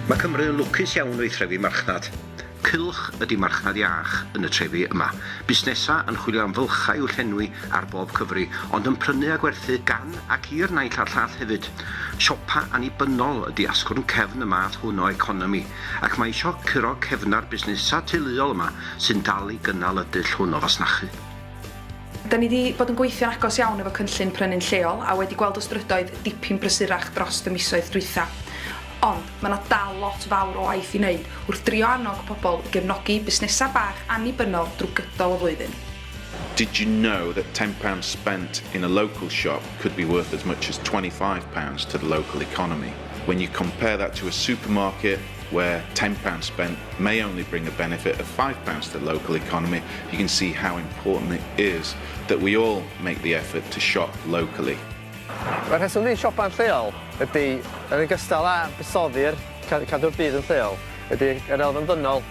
Mae Cymru yn lwcus iawn o'i threfi marchnad. Cylch ydy marchnad iach yn y trefi yma. Busnesau yn chwilio am fylchau i'w llenwi ar bob cyfri, ond yn prynu a gwerthu gan ac i'r naill a'r llall hefyd. Siopa annibynnol ydy asgwrn cefn y math hwn o economi, ac mae isio curo cefnau'r busnesau teuluol yma sy'n dal i gynnal y dull hwn o fasnachu. Da ni 'di bod yn gweithio'n agos iawn efo Cynllun Prynu'n Lleol a wedi gweld y strydoedd dipyn brysurach drost y misoedd dwytha. Ond, ma' 'na dal lot fawr o waith i neud wrth drio annog pobl i gefnogi busnesa' bach annibynnol drw gydol y flwyddyn. Did you know that ten pounds spent in a local shop could be worth as much as twenty five pounds to the local economy? When you compare that to a supermarket, where £10 spent may only bring a benefit of £5 to the local economy, you can see how important it is that we all make the effort to shop locally. Mae rheswm i siopa'n lleol ydy, yn ogystal â buddsoddi'r cadw'r byd yn lleol, ydy yr elfen ddynol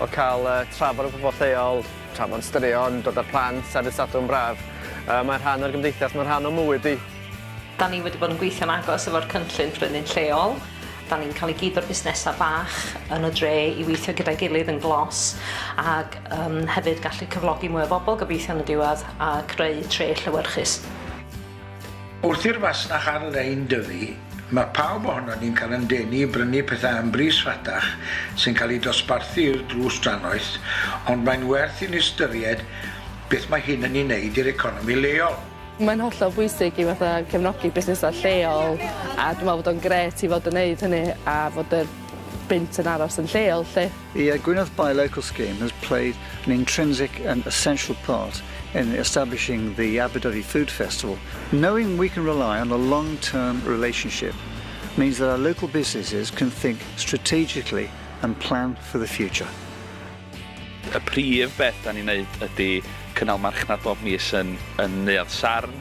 o cael trafod y pobl lleol, trafod straeon, dod â'r plant ar y Sadwrn braf. Mae'n rhan o'r gymdeithas, mae'n rhan o mywyd i. Da ni wedi bod yn gweithio'n agos efo'r cynllun prynu'n lleol. Da ni'n cael i gyd o'r busnesau bach yn y dre i weithio gyda'i gilydd yn glos ac um, hefyd gallu cyflogi mwy o bobl gobeithio yn y diwedd a creu tre llewyrchus. Wrth i'r fasnach ar-lein dyfu, mae pawb ohonon ni'n cael yn denu i brynu pethau am bris rhatach sy'n cael eu dosbarthu i'r drws drannoeth, ond mae'n werth i ni ystyried beth mae hyn yn ei wneud i'r economi leol. Mae'n hollol bwysig i fatha cefnogi busnesau lleol a dwi'n meddwl bod o'n grêt i fod yn wneud hynny a fod y bunt yn aros yn lleol 'lly. Y Gwynedd Buy Local Scheme has played an intrinsic and essential part in establishing the Aberdyfi Food Festival. Knowing we can rely on a long-term relationship means that our local businesses can think strategically and plan for the future. Y prif beth da ni'n neud ydy cynnal marchnad bob mis yn, yn Neuadd Sarn.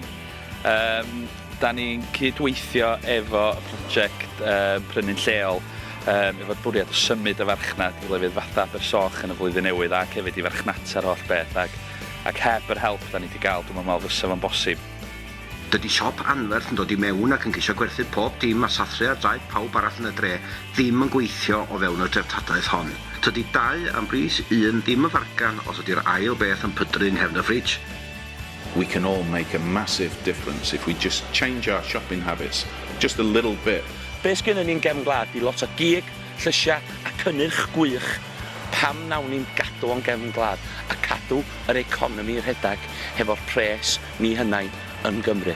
Um, da ni'n cydweithio efo y prosiect um, prynu'n lleol um, efo'r bwriad o symud y farchnad i lefydd fatha Abersoch yn y flwyddyn newydd ac hefyd i farchnata'r holl beth ac, ac heb yr help da ni wedi cael dwi'n meddwl fysa fo'n bosib. Dydi siop anferth yn dod i mewn ac yn ceisio gwerthu pob dim a sathru ar draed pawb arall yn y dre ddim yn gweithio o fewn y dreftadaeth hon. Tydi dau am bris un ddim yn fargan os ydi'r ail beth yn pydru yng nghefn y fridge. We can all make a massive difference if we just change our shopping habits just a little bit. Be sgynnon ni yn gefn gwlad di lot o gig, llysia a cynnyrch gwych, pam nawn ni'm gadw o'n gefn gwlad a cadw yr economi rhedag hefo'r pres ni hunain yn Gymru.